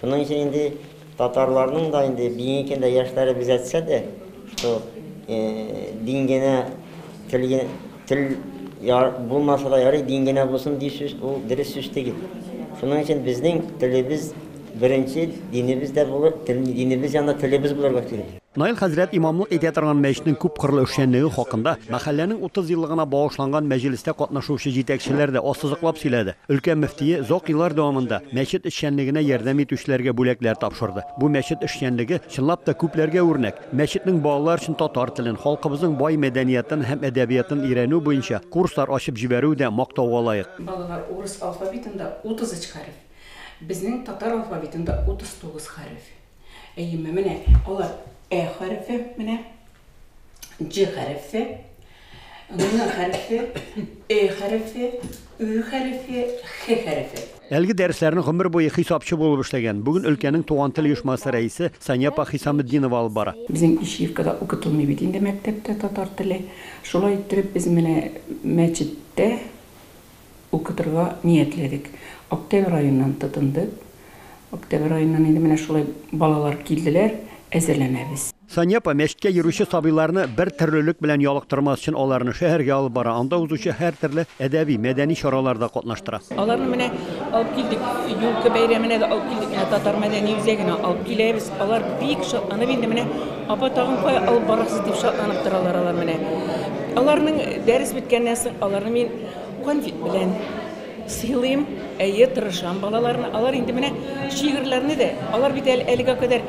Шуның өчен инде татарларның да инде бүгенге көндә яшьләре без әйтсә дә, что дин генә тел тел булмаса да ярый, дин генә булсын ди сүз, ул дөрес сүз түгел. Шуның өчен безнең телебез беренче, динебез дә булыр, динебез янында телебез булырга кирәк. Наил хәзрәт имамлык итә торган мәчетнең күп кырлы эшчәнлеге хакында мәхәлләнең 30 еллыгына багышланган мәҗлестә катнашучы җитәкчеләр дә ассызыклап сөйләде. Өлкә мөфтие озак еллар дәвамында мәчет эшчәнлегенә ярдәм итүчеләргә бүләкләр тапшырды. Бу мәчет эшчәнлеге, чынлап та, күпләргә үрнәк. Мәчетнең балалар өчен татар телен, халкыбызның бай мәдәниятын һәм әдәбиятын өйрәнү буенча курслар ачып җибәрүе дә мактауга лаек. Балалар, урыс алфавитында 33 хәреф, безнең татар алфавитында 39 хәреф. Әйеме, менә алар Ә хәрефе, менә Дж хәрефе, Н хәрефе, Э хәрефе, Ү хәрефе, Х хәрефе. Әлеге дәресләрне гомер буе хисапчы булып эшләгән, бүген өлкәнең туган тел оешмасы рәисе Сания апа Хисаметдинова алып бара. Безнең Ишиевкада укытылмый бит инде мәктәптә татар теле. Шулай иттереп без менә мәчеттә, укытырга ниятләдек. Октябрь аеннан тотындык. Октябрь аеннан инде менә шулай балалар килделәр, әзерләнәбез. Сания апа мәчеткә йөрүче сабыйларны бер төрлелек белән ялыктырмас өчен аларны шәһәргә алып бара, анда узучы һәртөрле әдәби, мәдәни чараларда катнаштыра. Аларны менә алып килдек, юлка бәйрәменә дә алып килдек, менә татар мәдәни үзәгенә алып киләбез. Алар бик шатланып инде менә, апа, тагын кая алып барасыз, дип шатланып торалар алар менә. Аларның дәрес беткәннән соң аларны мин Конфет белән сыйлыйм. Әйе, тырышам балаларны. Алар инде менә шигырьләрне дә, алар бит әле әлегә кадәр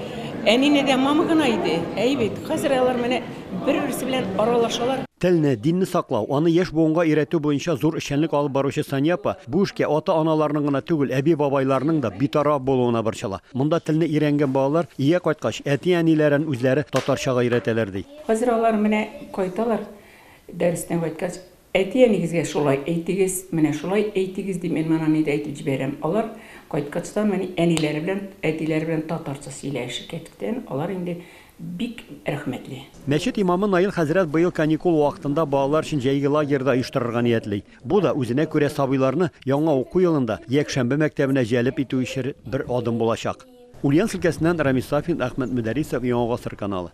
әнине дә мама гына иде. Әй бит, хәзер алар менә бер-берсе белән аралашалар. Телне, динне саклау, аны яшь буынга өйрәтү буенча зур эшчәнлек алып баручы Сания апа бу эшкә ата-аналарның гына түгел, әби-бабайларның да битараф булуына борчыла. Монда телне өйрәнгән балалар өйгә кайткач, әти-әниләрен үзләре татарчага өйрәтәләр, ди. Хәзер алар менә кайталар, дәрестән кайткач, Әти-әнигезгә шулай әйтегез, менә шулай әйтегез, дип мин моны нидә әйтеп җибәрәм. Алар кайткачтан мени әниләре белән, әтиләре белән татарча сөйләешә кәттән, алар инде бик рәхмәтле. Мәчет имамы Наил хәзрәт быел каникул вакытында балалар өчен җәйге лагерь да оештырырга ниятли. Бу да үзенә күрә сабыйларны яңа уку елында якшәмбе мәктәбенә җәлеп итү өчер бер адым булачак. Ульяновск өлкәсеннән Рамис Сафин, Әхмәт Мөдәрисов, Яңа гасыр каналы.